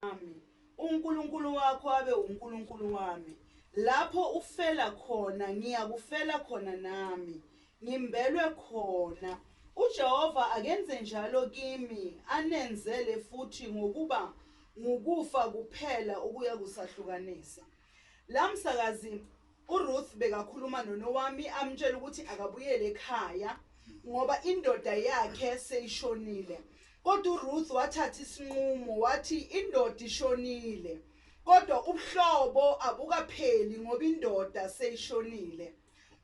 Ami. UNkulunkulu wakho abe uNkulunkulu wami. Lapho ufela khona, ngiyakufela khona nami. Ngimbelwe khona. UJehova akenze njalo kimi, anenzele futhi ngokuba ngukufa kuphela okuyakusahlukanisa. La msakazi URuth bekakhuluma noNowami amtshela ukuthi akabuyele ekhaya ngoba indoda yakhe seyishonile. Kodwa uRuth wathatha isinqumo wathi indoda ishonile. Kodwa ubuhlobo abukapheli ngoba indoda seyishonile.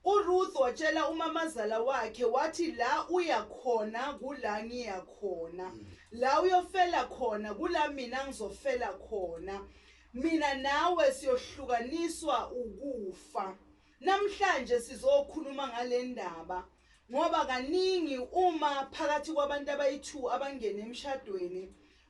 URuth watshela umamazala wakhe wathi la uya khona kula ngiya khona. La uyofela khona kula mina ngizofela khona. Mina nawe siyohlukaniswa ukufa. Namhlanje sizokhuluma ngale ndaba ngoba kaningi uma phakathi kwabantu abayi-two abangene emshadweni,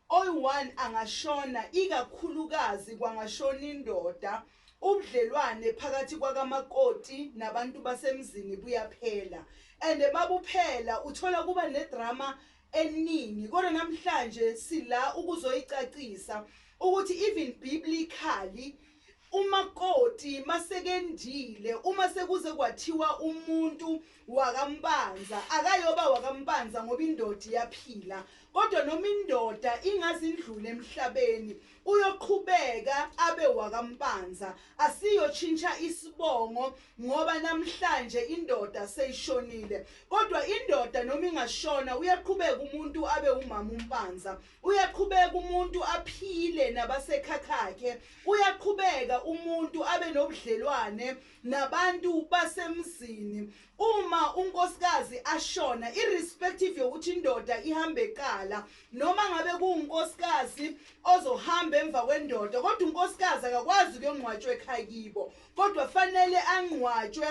oyi-one angashona ikakhulukazi kwangashona indoda, ubudlelwane phakathi kwakamakoti nabantu basemzini buyaphela. And mabuphela uthola kuba nedrama eningi kodwa namhlanje sila ukuzoyicacisa ukuthi even biblically umakoti masekendile uma sekuze kwathiwa umuntu wakampanza akayoba wakampanza ngoba indoda iyaphila kodwa noma indoda ingazindlula emhlabeni Uyoqhubeka abe wakaMpanza asiyotshintsha isibongo ngoba namhlanje indoda seyishonile kodwa indoda noma ingashona uyaqhubeka umuntu abe umama uMpanza uyaqhubeka umuntu aphile nabasekhakhakhe uyaqhubeka umuntu abe nobudlelwane nabantu basemzini Uma unkosikazi ashona, irrespective yokuthi indoda ihambe qala, noma ngabe kuwunkosikazi ozohamba emva kwendoda, kodwa unkosikazi akakwazi ukuyongcwatshwa ekhaya kibo, kodwa fanele angcwatshwe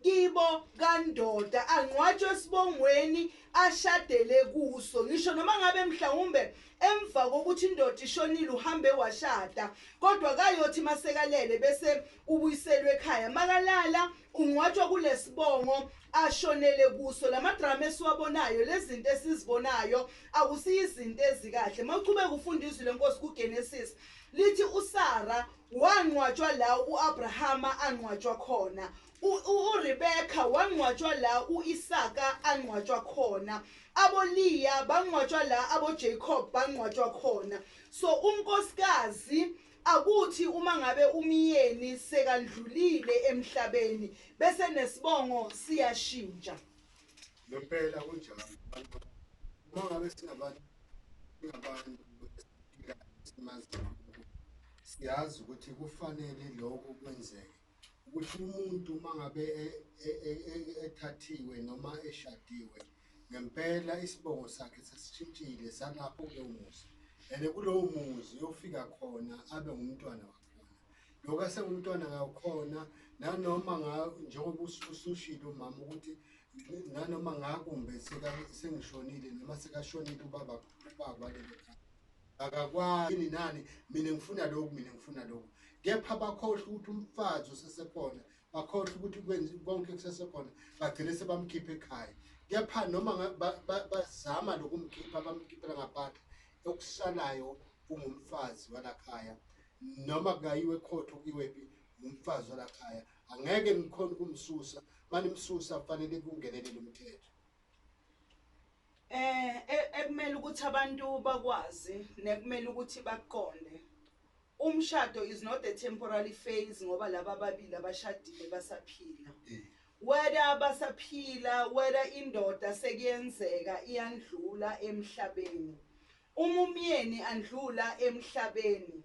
kibo kandoda, angcwatshwe esibongweni ashadele kuso. Ngisho noma ngabe mhlawumbe emva kokuthi indoda ishonile uhambe washada, kodwa kayothi masekalele bese ubuyiselwe ekhaya. Makalala Ungcwatshwa kulesibongo ashonele kuso. Lama drama esiwabonayo, lezinto esizibonayo akusiyo izinto ezikahle. Mawuchubeka ufunda izwi lenkosi ku Genesis lithi uSara wangcwatshwa la uAbrahama angcwatshwa khona. URebecca wangcwatshwa la uIsaka angcwatshwa khona. AboLeah bangcwatshwa la aboJacob bangcwatshwa khona. So unkosikazi Akuthi uma ngabe umyeni sekandlulile emhlabeni bese nesibongo siyashintsha. Ngempela kunjalo abantu uma ngabe singabantu singabantu simazi siyazi ukuthi kufanele lokho kwenzeke ukuthi umuntu uma ngabe e- e- e- e- ethathiwe noma eshadiwe ngempela isibongo sakhe sesishintshile salapho kulowo muzi and kulowo muzi uyofika khona abe ngumntwana wakhona lokho asengumntwana ngakhona nanoma nga- njengoba us- usushilo umama ukuthi nanoma ngakumbe seka- sengishonile noma sekashonile ubaba ubaba walelo khaya Akakwazi yini nani mina ngifuna lokhu mina ngifuna lokhu. Kepha bakhohlwa ukuthi umfazi usesekhona, bakhohlwa ukuthi kwenza konke kusesekhona, bagcine sebamkhipha ekhaya. Kepha noma nga- ba- ba- bazama lokumkhipha bamkhiphela ngaphandle okusalayo ungumfazi walakhaya noma kungayiwe ekhotho kuyiwephi ngumfazi walakhaya angeke nikhona ukumsusa manimsusa kufanele kungenelele umthetho Eh e, ekumele ukuthi abantu bakwazi nekumele ukuthi bakuqonde umshado is not a temporary phase ngoba laba ababili abashadile basaphila eh. whether basaphila whether indoda sekuyenzeka iyandlula emhlabeni Uma umyeni andlula emhlabeni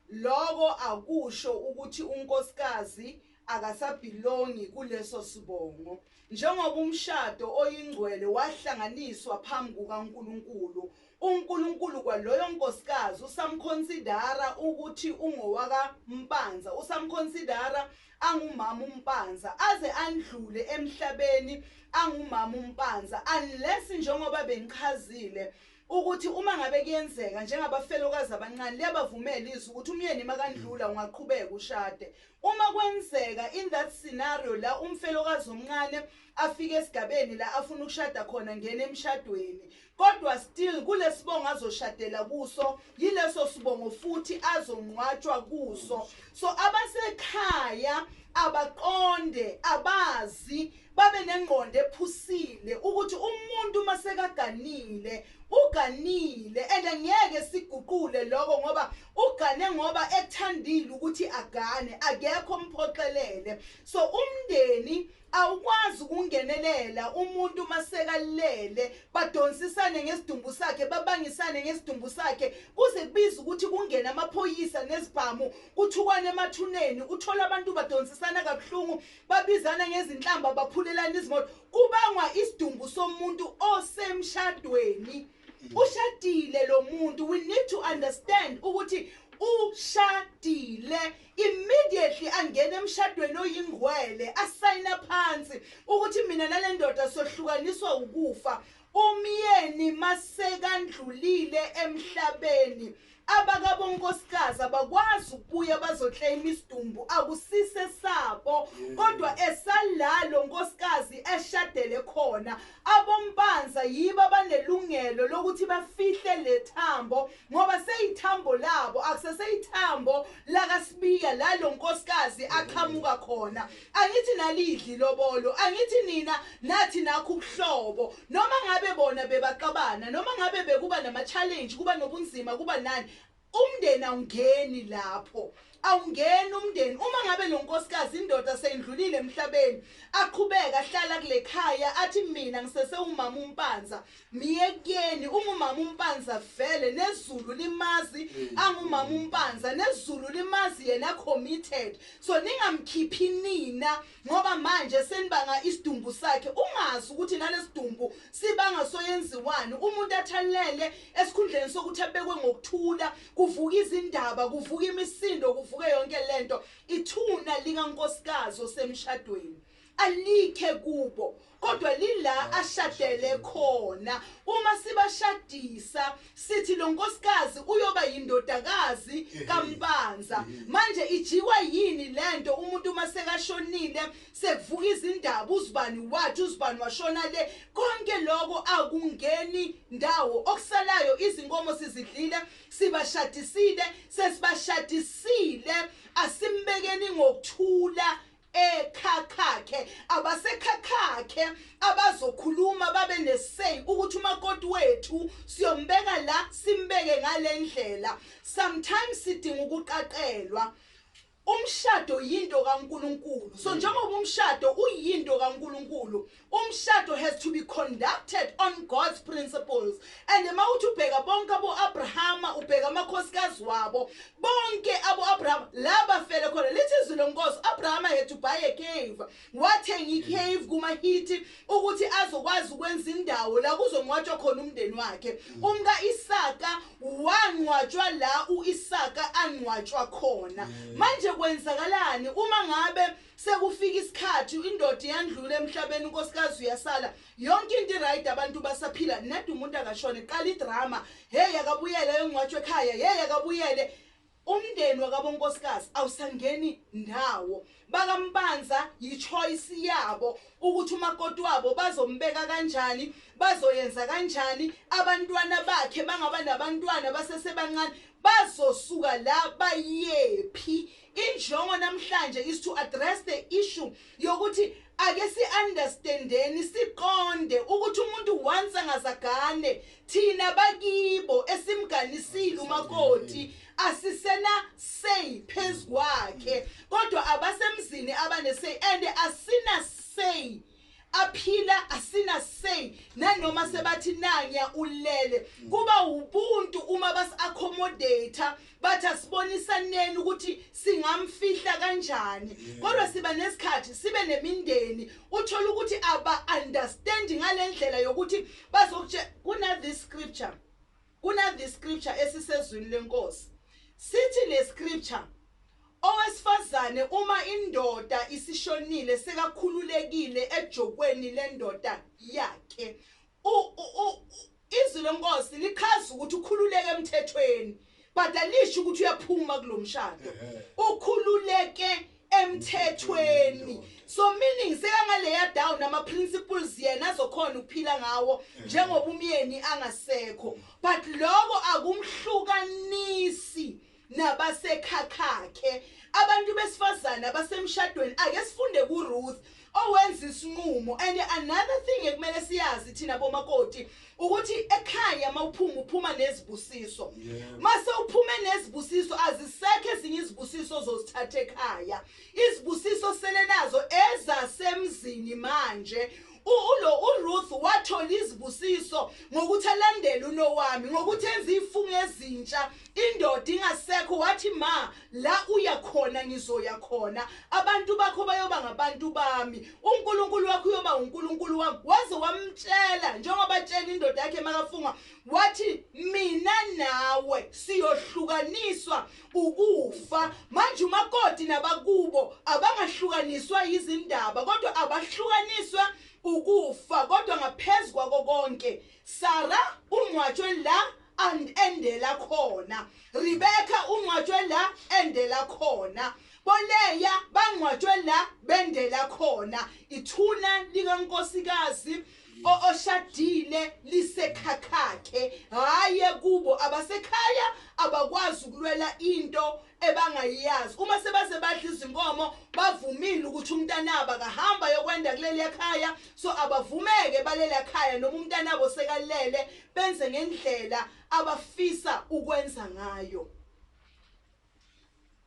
loko akusho ukuthi unkosikazi akasabhilongi kuleso sibongo njengoba umshado oyingcwele wahlanganiswa phambi kukaNkulunkulu, uNkulunkulu kwaloyo nkosikazi usamkhonsidara ukuthi ungowaka Mpanza, usamkhonsidara angumama uMpanza aze andlule emhlabeni angumama uMpanza unless njengoba bengichazile ukuthi uma ngabe kuyenzeka njengabafelokazi abancane liyabavumela izwi ukuthi umyeni makandlula ungaqhubeka ushade uma kwenzeka in that scenario la umfelokazi omncane afike esigabeni la afuna ukushada khona ngena emshadweni kodwa still kulesibongo azoshadela kuso yileso sibongo futhi azongcwatshwa kuso so abasekhaya abaqonde abazi Babe nengqondo ephusile ukuthi umuntu uma sekaganile uganile and ngeke siguqule lokho ngoba ugane ngoba ethandile ukuthi agane akekho omphoxelele so umndeni awukwazi ukungenelela umuntu masekalele badonsisane ngesidumbu sakhe babangisane ngesidumbu sakhe kuze kubiza ukuthi kungena amaphoyisa nezibhamu kuthukwane emathuneni uthola abantu badonsisana kabuhlungu babizana ngezinhlamba baphulelana izimoto kubangwa isidumbu somuntu osemshadweni ushadile lo muntu we need to understand ukuthi ushadile immediately angena emshadweni oyingwele asayina phansi ukuthi mina nale ndoda sohlukaniswa ukufa umyeni masekandlulile emhlabeni Abakabonkosikazi abakwazi ukubuya bazoclaim isidumbu akusise sabo kodwa esalalo nkosikazi eshadele khona. Abompanza yibo abanelungelo lokuthi bafihle le thambo ngoba seyithambo labo akusese ithambo lakaSibiya la lo nkosikazi aqhamuka khona. Angithi nalidli ilobolo angithi nina nathi nakho ubuhlobo noma ngabe bona bebaxabana noma ngabe bekuba nama challenge kuba nobunzima kuba nani umndeni awungeni lapho awungeni umndeni uma ngabe lo nkosikazi indoda seyindlulile emhlabeni aqhubeka ahlala kule khaya athi mina ngisesewumama umpanza Myekeni ungumama umpanza vele nezulu limazi angumama umpanza nezulu limazi yena committed so ningamkhiphi nina ngoba manje senibanga isidumbu sakhe ungazi ukuthi nalesidumbu sibanga soyenziwani umuntu athalele esikhundleni sokuthi abekwe ngokuthula kuvuka izindaba kuvuka imisindo kuvuke yonke lento ithuna likankosikazi osemshadweni alikhe kubo kodwa lila ashadele khona uma sibashadisa sithi lo nkosikazi uyoba yindodakazi kampanza manje ijikwa yini lento umuntu uma sekashonile sekuvuka izindaba uzibani wathi uzibani washona le konke lokho akungeni ndawo okusalayo izinkomo sizidlile sibashadisile sesibashadisile asimbekeni ngokuthula ekhakhakhe abasekhakhakhe abazokhuluma babe nesay ukuthi umakoti wethu siyombeka la simbeke ngalendlela sometimes sidinga ukuqaqelwa umshado yinto kaNkuluNkulu so njengoba umshado uyinto kaNkuluNkulu Umshado has to be conducted on God's principles and uma uthi ubheka bonke aboAbrahama ubheka amakhosikazi wabo bonke aboAbrahama laba fele khona lithi izwi lenkosi Abrahama had to buy a cave wathenga icave kumaHithi ukuthi azokwazi ukwenza indawo la kuzongcwatshwa khona umndeni wakhe mm. umka Isaka wangcwatshwa la uIsaka angcwatshwa khona mm. manje kwenzakalani uma ngabe Sekufika isikhathi indoda iyandlula emhlabeni unkosikazi uyasala yonke into irayidi abantu basaphila ned umuntu akashone qala idrama hey akabuyele ayongcwatshwa ekhaya hey akabuyele umndeni wakabonkosikazi awusangeni ndawo bakambanza yichoice yabo ukuthi umakoti wabo bazombeka kanjani bazoyenza kanjani abantwana bakhe bangaba nabantwana basesebancane bazosuka la bayephi Injongo namhlanje is to address the issue yokuthi ake si understandeni siqonde ukuthi umuntu once angazagane thina bakibo esimganisile umakoti asisena say phezu kwakhe kodwa abasemzini abane say and asina say aphila asina say nanoma sebathi nanya ulele kuba ubuntu uma bas accommodate bathi asibonisaneni ukuthi singamfihla kanjani kodwa siba nesikhathi sibe nemindeni uthola ukuthi aba understand ngalendlela yokuthi bazokutshe kuna this scripture Kuna this scripture esisezwini lenkosi. Sithi le scripture owesifazane uma indoda isishonile sekakhululekile ejokweni lendoda yakhe. U, u, u, izwi lenkosi lichaza ukuthi ukhululeke emthethweni but alisho ukuthi uyaphuma kulomshado. Ukhululeke emthethweni so meaning sekangaleya down ama principles yena azokhona ukuphila ngawo njengoba umyeni angasekho but lokho akumhlukanisi nabasekhakhakhe abantu besifazana abasemshadweni ake sifunde kuRuth owenza isinqumo and another thing ekumele siyazi thina bomakoti ukuthi ekhaya mawuphuma uphuma nezibusiso mase uphume nezibusiso azisekho ezinye izibusiso zozithatha ekhaya izibusiso selenazo ezasemzini manje ulo uRuth wathola izibusiso ngokuthi alandele uNowami ngokuthi enze ifunga ezintsha Indoda ingasekho wathi ma la uya khona ngizoya khona abantu bakho bayoba ngabantu bami uNkulunkulu wakho uyoba uNkulunkulu wami waze wamtshela njengoba tshela indoda yakhe makafunga wathi mina nawe siyohlukaniswa ukufa manje umakoti nabakubo abangahlukaniswa yizindaba kodwa abahlukaniswa ukufa kodwa ngaphezulu kwako konke Sara ungcwatshwe la and endela khona Rebecca ungcwatshwe la endela khona boleya bangcwatshwe la bendela khona ithuna likankosikazi oshadile lisekhakhakhe haye kubo abasekhaya abakwazi ukulwela into ebangayiyazi uma sebaze badla izinkomo bavumile ukuthi umntanabo akahamba yokwenda kuleli ekhaya so abavumeke baleli ekhaya noma umntanabo sekalele benze ngendlela abafisa ukwenza ngayo.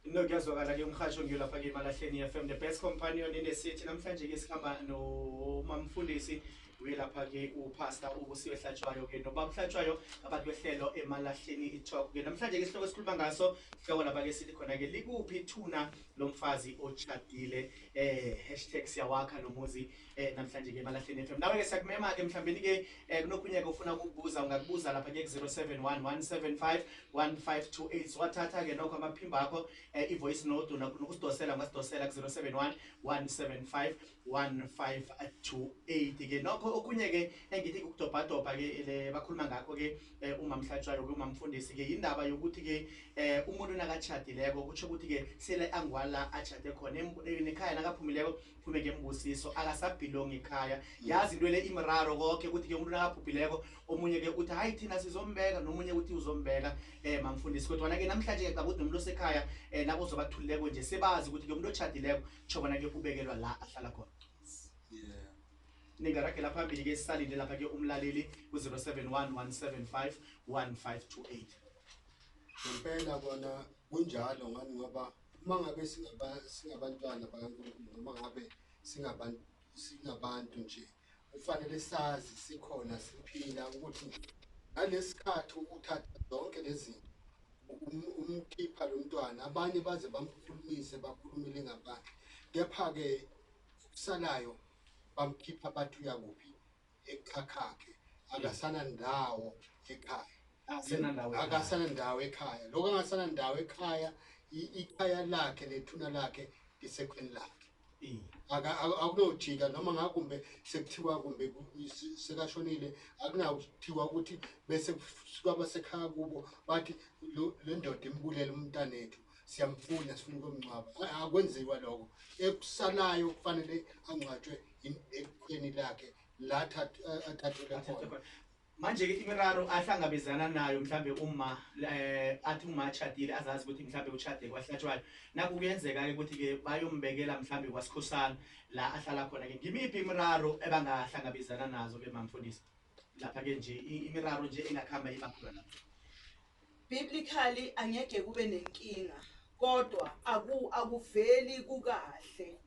No kuyazwakala ke umhasho ngiyo lapha ke eMalahleni FM the best companion in the city namhlanje ke sikhamba no mamfundisi uye lapha ke upastor ubusiwe hlatshwayo ke no baba hlatshwayo abantu behlelo eMalahleni italk ke namhlanje ke sihloko esikhuluma ngaso sihloko lapha ke sithi khona ke likuphi ithuna lomfazi ochadile eh #siyawakha nomuzi eh namhlanje ke balahleni FM nawe ke siyakumema ke mhlawumbe ke eh, kunokunye ke ufuna ukubuza ungakubuza lapha ke 0711751528 wathatha ke nokho amaphimba akho eh, ivoice note nokusidosela ungasidosela ku 0711751528 ke nokho okunye ke engithi ukudobhadobha ke le bakhuluma ngakho ke eh, umamhlatshwayo ke umamfundisi ke indaba yokuthi ke eh, umuntu nakachadileko kutsho ukuthi ke sele angwala achade khona nekhaya nakaphumileko kube ke mbusiso akasabhilongi ekhaya yazi into le imraro konke ukuthi ke umuntu nakabhubhileko omunye ke uthi hayi thina sizombeka nomunye uthi uzombeka um mamfundisi kodwana ke namhlanje ke cabudi nomuntu osekhaya um eh, labo zobathulileko nje sebazi ukuthi ke umuntu otshadileko tsho bona ke ubekelwa la ahlala khona ningaragela phambili ke sisalinde lapha ke umlaleli ku-071 175 1528 ngempela kona kunjalo ngani ngoba Uma ngabe singabantwana bakaNkulunkulu noma ngabe singabantu singabantu nje kufanele sazi sikhona siphila ukuthi nje ngalesikhathi ukuthatha zonke lezinto um, umkhipha lo mntwana abanye baze bamkhulumise bakhulumele ngaphandle kepha-ke kusalayo bamkhipha bathi uyakuphi ekhakhakhe akasana ndawo ekhaya akasana ndawo ekhaya lokho angasana ndawo ekhaya ikhaya lakhe nethuna lakhe lisekhweni lakhe akunojika noma ngakumbe sekuthiwa kumbe sekashonile akunakuthiwa ukuthi bese kusuka abasekhaya kubo bathi le ndoda imbulele umntanethu siyamfuna sifuna ukumngcwaba akwenziwa lokho ekusalayo kufanele angcwatshwe ekhweni lakhe la athathele khona manje ke imiraro ahlangabezana nayo mhlambe uma eh athi uma achadile azazi ukuthi mhlambe uchade kwahlatshwayo naku kuyenzeka ke ukuthi ke bayombekela mhlambe kwasikhosana la ahlala khona ke ngimiphi imiraro ebangahlangabezana nazo ke mamfundisi lapha ke nje imiraro nje engakhamba ibakhona lapha Biblically angeke kube nenkinga kodwa aku akuveli kukahle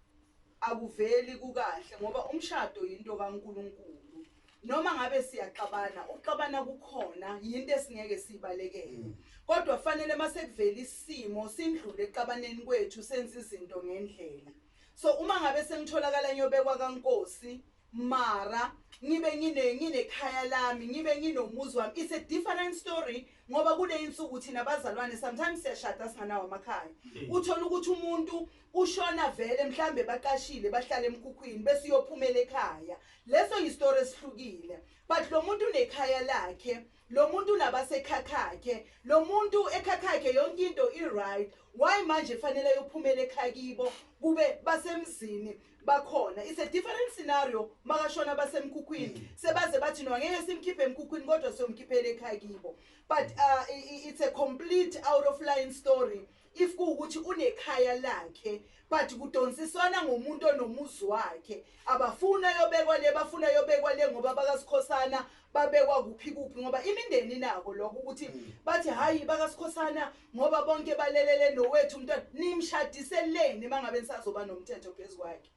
akuveli kukahle ngoba umshado yinto kaNkuluNkulu noma ngabe siyaxabana uxabana kukhona yinto esingeke sibalekele mm. kodwa fanele masekuvela isimo sindlule exabaneni kwethu senze izinto ngendlela so uma ngabe sengitholakala nyobekwa kaNkosi Mara ngibe ngine nginekhaya lami ngibe nginomuzi wami it's a different story ngoba kuleyinsuku thina bazalwane sometimes siyashada singanawo amakhaya hmm. uthola ukuthi umuntu ushona vele mhlambe baqashile bahlala emkhukhwini bese uyophumela ekhaya leso yistory esihlukile but lo muntu unekhaya lakhe Lomuntu unabase khakhakhe lomuntu ekhakhakhe yonke into i right why manje fanele yophumela ekhakibo kube basemzini bakhona it's a different scenario makashona basemkhukhwini mm. sebaze bathi no ngeke simkhiphe emkhukhwini kodwa siyomkhiphela ekhakibo but uh, it's a complete out of line story If kuwukuthi unekhaya lakhe but kudonsiswana ngomuntu onomuzi wakhe abafuni ayobekwa le bafuna ayobekwa le ngoba bakasikhosana babekwa kuphi kuphi ngoba imindeni nako lokho ukuthi mm. bathi hayi bakasikhosana ngoba bonke balelele nowethu umntwana nimshadiseleni mangabe nisazoba nomthetho phezu kwakhe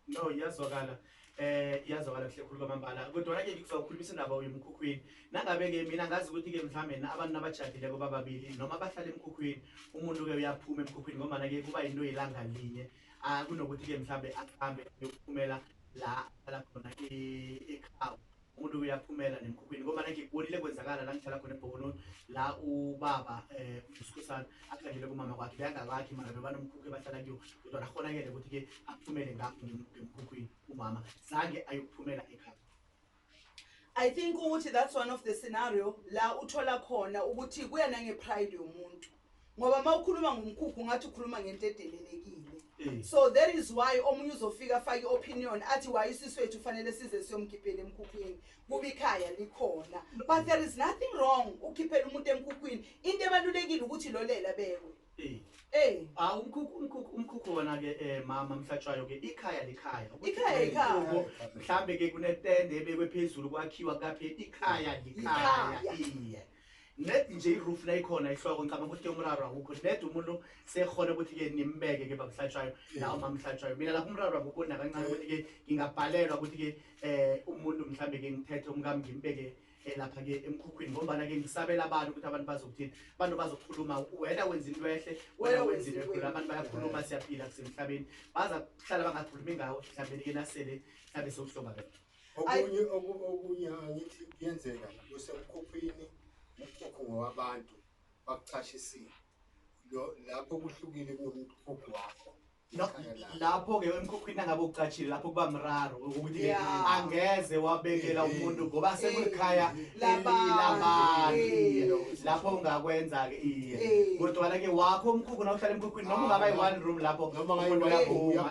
No iyazwakala eh iyazwakala kuhle khulu kwamambala kodwa ke ngizawukhulumisa indaba yomkhukhwini nangabe ke mina ngazi ukuthi ke mhlawumbe abantu abajadile kuba babili noma abahlala emkhukhwini umuntu ke uyaphuma emkhukhwini ngoba ke kuba into yelanga linye ah kunokuthi ke mhlawumbe ahambe yokuphumela la ala khona ekhaya Umuntu uyaphumela nemkhukhwini ngoba nake ngibonile kwenzakala la ngihlala khona ebhokoloni la ubaba eh usikhosana akhandele kumama kwakhe beyangakakhe mara bebanomkhukhu bahlala kuyo kodwa nakhonakele ukuthi ke aphumele ngapho ngemkhukhwini umama zange ayokuphumela ekhaya I think ukuthi that's one of the scenario la uthola khona ukuthi kuya nange pride yomuntu ngoba uma ukhuluma ngomkhukhu ungathi ukhuluma ngento edelelekile eh. so that is why omunye uzofika afake i-opinion athi waye isisi wethu kufanele size siyomkhiphela emkhukhwini kuba ikhaya likhona but there is nothing wrong ukhiphela umuntu emkhukhwini into ebalulekile ukuthi lolela bekwe eh. eh. ah, umkhukhu wona-ke um mama mhlatshwayo-ke ikhaya likhaya ikhaya ikhaya mhlawumbe-ke kunetende ebekwe phezulu kwakhiwa kaphela ikhaya likhaya iye Ned nje iroof la ikhona ihloko ngicabanga ukuthi ke umraro akukho ned umuntu sekhona ukuthi ke nimbeke ke bamhlatshwayo nawo mamhlatshwayo mina lapho umraro akukho nakancane ukuthi ke ngingabhalelwa ukuthi ke eh umuntu mhlambe ke ngithethe umkami ngimbeke eh, lapha ke emkhukhwini ngombana ke ngisabela abantu ukuthi abantu bazokuthini abantu bazokhuluma wena wenza into ehle wena wenza into ekhulu abantu bayakhuluma siyaphila kusemhlabeni baza kuhlala bangakhulumi ngawo mhlawumbe ke nasele mhlawumbe sewuhlongakele okunye okunye angithi kuyenzeka kusemkhuphini umkhukhu ngowabantu bakuchashisile lapho kuhlukile kunomkhukhu wakho lapho-ke emkhukhwini angabe ucatshile lapho kuba mraro ukuthi angeze wabekela umuntu ngoba sekulikhaya labantu lapho ungakwenza-ke iye kodwana-ke wakho umkhukhu na uhlala emkhukhwini noma ungaba yi-one room lapho umuntu uyaphuma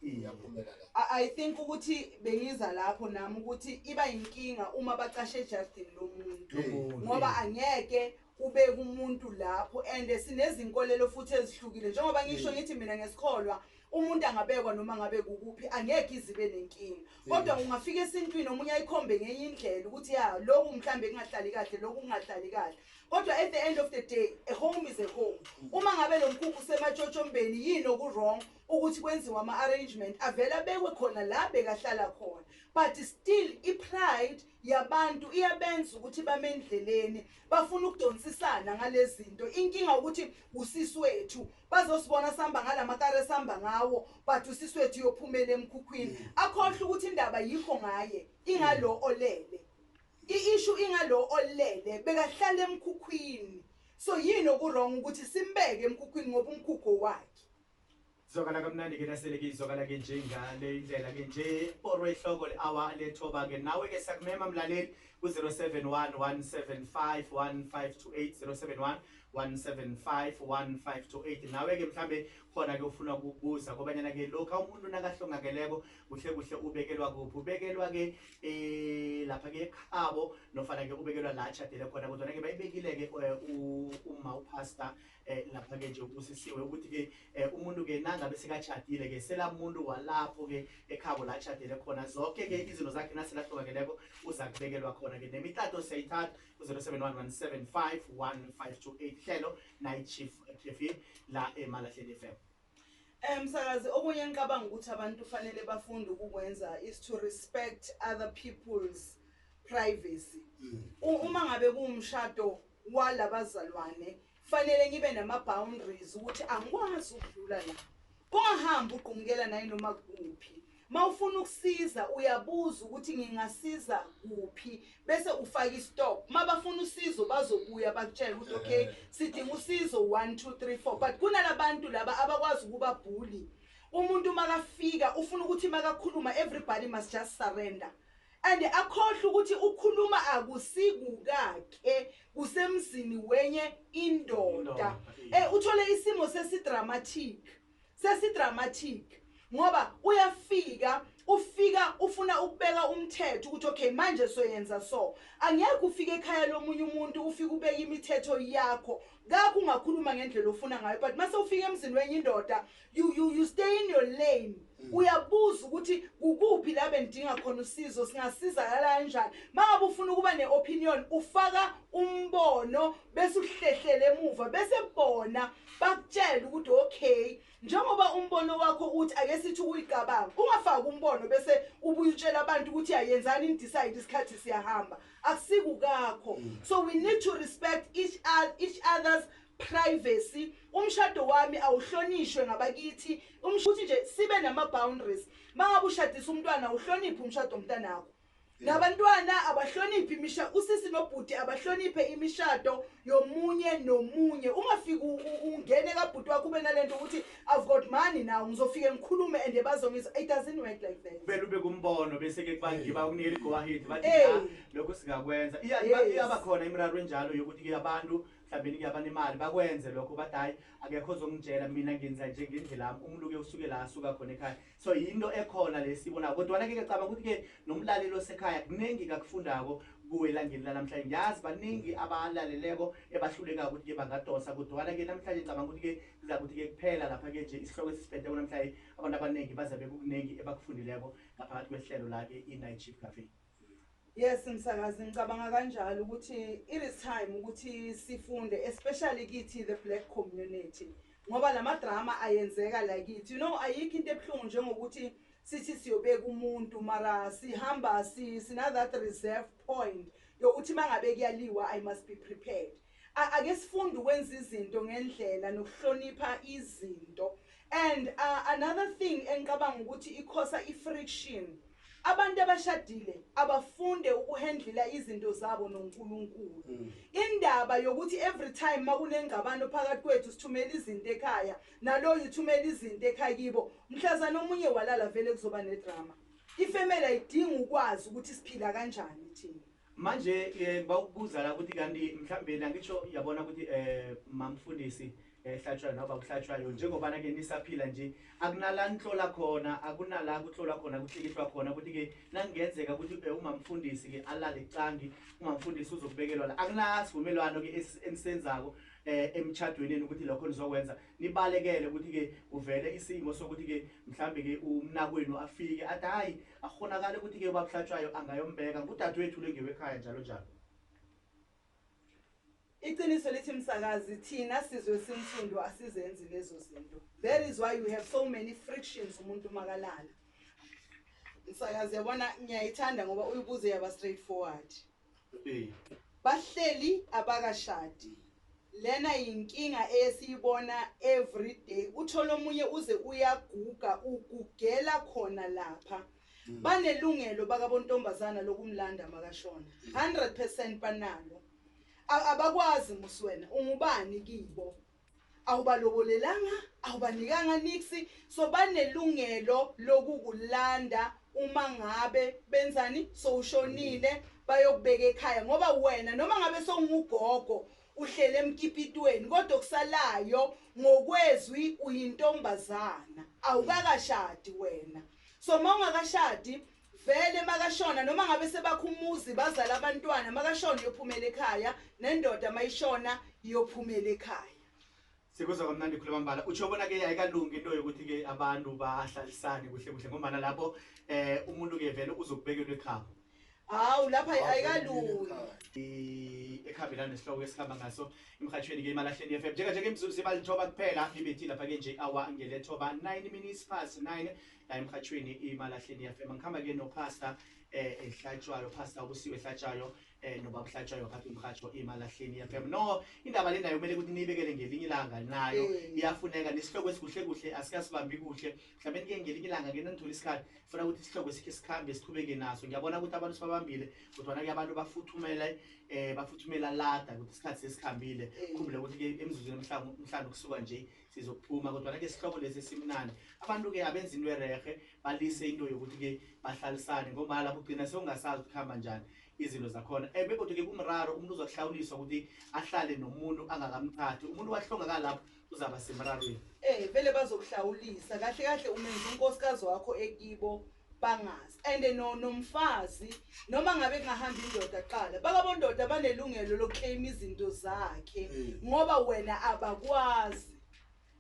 iyaphumela la I, I think ukuthi bengiza lapho nami ukuthi iba inkinga uma bacashe ejardini lomuntu Lomuntu. ngoba angeke ubeke umuntu lapho and sinezinkolelo futhi ezihlukile njengoba ngisho ngithi mina ngesikholwa umuntu angabekwa noma ngabe kukuphi angeke izibe nenkinga kodwa ungafika esintwini omunye ayikhombe ngenye indlela ukuthi ya lokhu mhlawumbe kungahlali kahle lokhu kungahlali kahle kodwa at the end of the day a home is a home uma ngabe lo mkhukhu usematshotshombeni yini oku-wrong ukuthi kwenziwe ama arrangement avele abekwe khona la bekahlala khona but still i pride yabantu iyabenza ukuthi bamendleleni bafuna ukudonsisana ngalezinto inkinga ukuthi usisi wethu bazosibona samba ngalamakare samba ngawo but usisi wethu yophumela emkhukhwini mm. akhohle ukuthi indaba yikho ngaye ingalo olele i issue ingalo olele bekahlala emkhukhwini so yini okurong ukuthi simbeke emkhukhwini ngoba umkhukho wakhe Zwakala kamnandi ke nasele ke izwakala ke nje ngale indlela ke nje porwe ihloko le awa lethoba ke nawe ke siyakumema mlaleli ku 0711751528 nawe ke mhlambe khona ke ufuna ukubuza kobanyana ke lokho umuntu nakahlongakeleko kuhle kuhle ubekelwa kuphi ubekelwa ke eh lapha ke ekhabo nofana ke ubekelwa la atshadele khona kodwa ke bayibekile ke eh, umma upastor eh lapha ke nje ubusisiwe ukuthi ke eh, umuntu ke nangabe sekachadile ke selamuntu walapho ke ekhabo la chadele khona zonke ke izinto zakhe naselahlukakeleko uza kubekelwa khona ke nemitato siyayithatha ku-071 175 hlelo nayi-chief eh, la emalahleni fm Eh msakazi okunye engicabanga ukuthi abantu kufanele bafunde ukukwenza is to respect other people's privacy. Mm. Uma ngabe kuwumshado walabazalwane fanele ngibe nama boundaries ukuthi angikwazi ukudlula la. Kungahambi ugqumukela naye noma kuphi. Mawufuna ukusiza uyabuza ukuthi ngingasiza kuphi bese ufaka istop. Mabafuna usizo bazobuya bakutshela ukuthi okay eh. sidinga usizo 1 2 3 4 but kunalabantu laba abakwazi ukuba bully. Umuntu makafika ufuna ukuthi makakhuluma everybody must just surrender. and akhohle ukuthi ukhuluma akusikukakhe kusemzini wenye indoda eh uthole isimo sesidramatic Sesi dramatic ngoba uyafika ufika ufuna ukubeka umthetho ukuthi okay manje soyenza so angeke ufike ekhaya lomunye umuntu ufike ubeke imithetho yakho kakho ungakhuluma ngendlela ofuna ngayo but mase ufika emzini wenye indoda you, you, you stay in your lane mm. uyabuza ukuthi kukuphi la bendinga khona usizo singasizakala kanjani mangabe ufuna ukuba ne-opinion ufaka umbono bese uhlehlele emuva bese bona bakutshele ukuthi okay njengoba umbono wakho uthi ake sithi uyicabanga ungafaki umbono bese ubuyutshela abantu ukuthi ayenzani in decide isikhathi siyahamba akusikukakho mm. so we need to respect each, each other's privacy umshado wami awuhlonishwe ngabakithi ukuthi nje sibe nama boundaries mangabe ushadisa umntwana uhloniphe umshado omntanakho Nabantwana abahloniphi imisha usisi nobhuti abahloniphe imishado yomunye nomunye ungafiki u- u- ungene kabhuti wakho ube nalento ukuthi i've got money now ngizofike ngikhulume and bazongizwa it doesn't work like that kumele ube kumbono bese-ke kubangiba ukunikela igowahidi bathi Hey. "Ah, lokhu singakwenza Iya- Yes. iba- iyaba khona imiraro enjalo yokuthi ke abantu mhlawumbe ke abanemali bakwenze lokho bathi hhayi akekho ozongitshela mina ngenza nje ngendlela yami umluke usuke la asuka khona ekhaya So yinto ekhona le sibona kodwana ke ngiyacabanga ukuthi ke nomlaleli osekhaya kuningi kakufundako kuwe elangeni lanamhlanje ngiyazi baningi abalaleleko ebahluleka ukuthi ke bangadonsa kodwana ke namhlanje ngicabanga ukuthi ke kuza kuthi ke kuphela lapha ke nje isihloko esisipheteko namhlanje abantu abaningi bazabe kukuningi ebakufundileko ngaphakathi kwesihlelo la ke i-night shift cafe Yes msakazi ngicabanga kanjalo ukuthi it is time ukuthi sifunde especially kithi the black community ngoba lama drama ayenzeka la kithi you know ayikho into ebuhlungu njengokuthi sithi siyobeka umuntu mara sihamba si sina that reserve point yokuthi mangabe kuyaliwa i must be prepared Ake sifunde ukwenza izinto ngendlela nokuhlonipha izinto and another thing engicabanga ukuthi ikhosa ifriction abantu abashadile abafunde ukuhendlela izinto zabo noNkulunkulu mm. indaba yokuthi every time makunengxabano phakathi kwethu sithumela izinto ekhaya naloyo uthumela izinto ekhaya kibo mhlazana omunye walala vele kuzoba nedrama ifemela idinga ukwazi ukuthi siphila kanjani thina Manje bawukubuza la ukuthi kanti mhlambe nangitsho yabona ukuthi eh mamfundisi ehlatshwayo noma bakuhlatshwayo njengobana ke nisaphila nje akunala nihlola khona akunala kuhlolwa khona kuhlikihlwa khona ukuthi ke nangenzeka ukuthi eh, umamfundisi ke alale cangi umamfundisi uzokubekelwa la akunasivumelwano ke enisenzako eh emchadweni ukuthi lokho nizokwenza nibalekele ukuthi ke uvele isimo sokuthi ke mhlambe ke umnakwenu afike athi hayi Akukghonakali ukuthi-ke ubaba uHlatshwayo angayombeka ngudadewethu lo ngewekhaya njalo njalo. Iqiniso lithi msakazi thina sizwe esinsundu asizenzi lezo zinto. That is why you have so many frictions umuntu makalala. Msakazi yabona ngiyayithanda ngoba uyibuze yaba straightforward. Bahleli abakashadi Lena yinkinga eyesiyibona everyday uthole omunye uze uyaguga ugugela khona lapha mm. banelungelo bakabontombazana lokumlanda makashona 100% banalo abakwazi muswena ungubani kibo Awubalobolelanga, awubanikanga nix so banelungelo lokukulanda uma ngabe benzani sowushonile bayokubeka ekhaya ngoba wena noma ngabe sowungugogo uhlele emkipitweni kodwa okusalayo ngokwezwi uyintombazana awukakashadi wena so uma ungakashadi Vele makashona noma ngabe sebakha umuzi bazala abantwana makashona uyophumela ekhaya nendoda mayishona iyophumela ekhaya. Sikuzwa kamnandi khuluma mbala utsho bona ke ayikalungi into yokuthi ke abantu bahlalisane kuhle kuhle ngombana lapho eh umuntu ke vele uzokubekelwa ekhabo Hawu lapha ayikalungi. i- ekhambelana nesihloko esikhamba ngaso emhatshweni ke imalahleni FM njenganje ke mzuzu sebalithoba kuphela ibethile lapha ke nje awa ngelethoba 9 minutes past 9 la emhatshweni imalahleni yafema ngikhamba ke nopastor eh ehlatshwayo pastor ubusiwe ehlatshwayo eh nobaba uhlatshwayo phakathi umhatsho imalahleni yafema no indaba lena kumele ukuthi niyibekele ngelinye ilanga nayo mm. iyafuneka nesihloko esikuhle kuhle asikasibambi kuhle mhlawumbe nike ngelinye ilanga ke nithola isikhathi funa ukuthi isihloko sikhe sikhambe siqhubeke naso ngiyabona ukuthi abantu sibabambile kodwa ke abantu bafuthumela eh bafuthumela lada ukuthi isikhathi sesikhambile mm. khumbule ukuthi ke emizuzwini emhlanu emhlanu kusuka nje Sizophuma kodwana ke sihloko lesi esimnandi. Abantu ke abenza into ererhe balise into yokuthi ke bahlalisane ngombana lapho ugcina sewungasazi ukuthi kuhamba njani izinto zakhona. Eh begodu ke kumraro umuntu uzokuhlawuliswa ukuthi ahlale nomuntu angakamthathi. Umuntu wahlongakala lapho uzaba semrarweni. Eh vele bazokuhlawulisa. Kahle kahle umenza unkosikazi wakho ekibo. bangazi and no nomfazi noma ngabe kungahamba indoda kuqala bakabondoda banelungelo lokuclaim izinto zakhe mm. ngoba wena abakwazi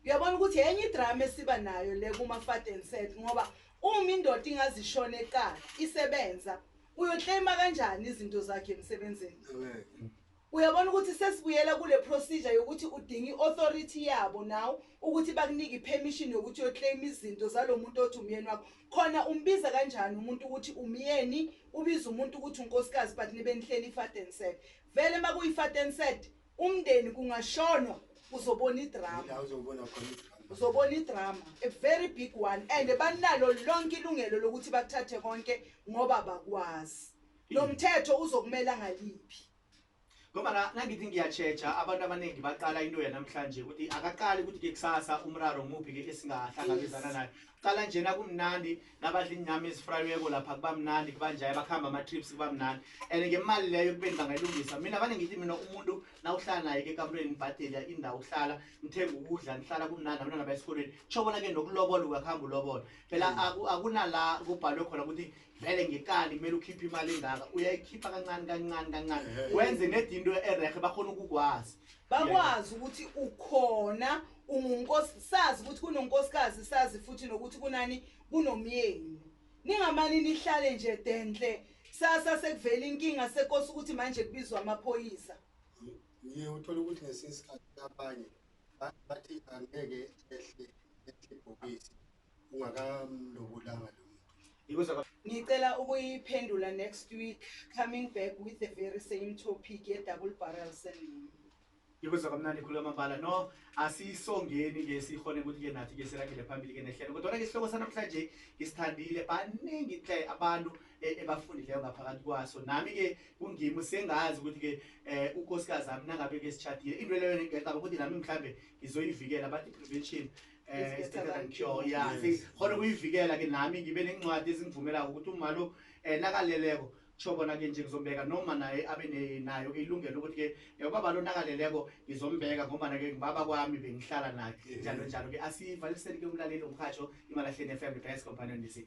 uyabona ukuthi enye idrama esiba nayo le kuma fat and set ngoba uma indoda ingazishona eqala isebenza uyoclaima kanjani izinto zakhe emsebenzini Uyabona ukuthi sesibuyela kule procedure yokuthi udinga i authority yabo now ukuthi bakunike i permission yokuthi uyo claim izinto zalomuntu othi umyeni wakho. Khona umbiza kanjani umuntu ukuthi umyeni, ubiza umuntu ukuthi unkosikazi but nibe nihleli i fat and sad. Vele makuyi fat and sad umndeni kungashonwa uzobona i drama. Yila uzobona khona i drama. uzobona idrama a very big one and banalo lonke ilungelo lokuthi bakuthathe konke ngoba bakwazi Lo mthetho uzokumela ngaliphi? Ngoba la nangithi ngiyachecha abantu abaningi baqala into yanamhlanje ukuthi akaqali ukuthi ke kusasa umraro muphi ke esingahlangabezana naye. Qala njena kumnandi nabadla inyama ezifrayeko lapha kuba mnandi kuba njaye bakhamba ama trips kuba mnandi. And ngemali leyo kubeni bangayilungisa. Mina bane ngithi mina umuntu nawuhlala naye ke kamrweni nibhadela indawo uhlala ngithenga ukudla nihlala kumnandi abantwana bayesikoleni. Chobona ke nokulobola uyakhamba ulobola. Phela akunala kubhalwe khona ukuthi vele ngekali kumele ukhiphe imali engaka uyayikhipha kancane kancane kancane wenze nedi into erehe bakhona ukukwazi bakwazi ukuthi ukhona ungunkosi sazi ukuthi kunonkosikazi sazi futhi nokuthi kunani kunomyeni ningamane nihlale nje denhle sasa sekuvela inkinga sekosi ukuthi manje kubizwa amaphoyisa ngiye uthola ukuthi ngesinye isikhathi abanye bathi angeke ehle ehle ibhokisi ungakamlobolanga lo muntu ngicela ukuyiphendula next week coming back with the very same topic ye double barrel syndrome Ngikuzwa kamnandi ikhulu amabala no asisongeni ke sihone ukuthi ke nathi ke sirakele phambili ke nehlelo kodwa ke isihloko sanamhlanje ngisithandile baningi hle abantu e, ebafundileyo ngaphakathi kwaso nami ke kungimi sengazi ukuthi ke eh, unkosikazi ami nangabe ke sitshadile into leyo ngiyacaba ukuthi nami mhlambe ngizoyivikela bathi prevention eh, is better than cure yeah mm. see khona kuyivikela ke nami ngibe nencwadi ezingivumela ukuthi uma lo eh, nakaleleko kusho kona ke nje ngizombeka noma naye abe nayo ke ilungelo ukuthi ke eh, ubaba lo nakaleleko ngizombeka ngoba nake ngibaba kwami bengihlala naye njalo njalo ke asivaliseni ke umlaleli umhajo imalahleni FM Best Companion Music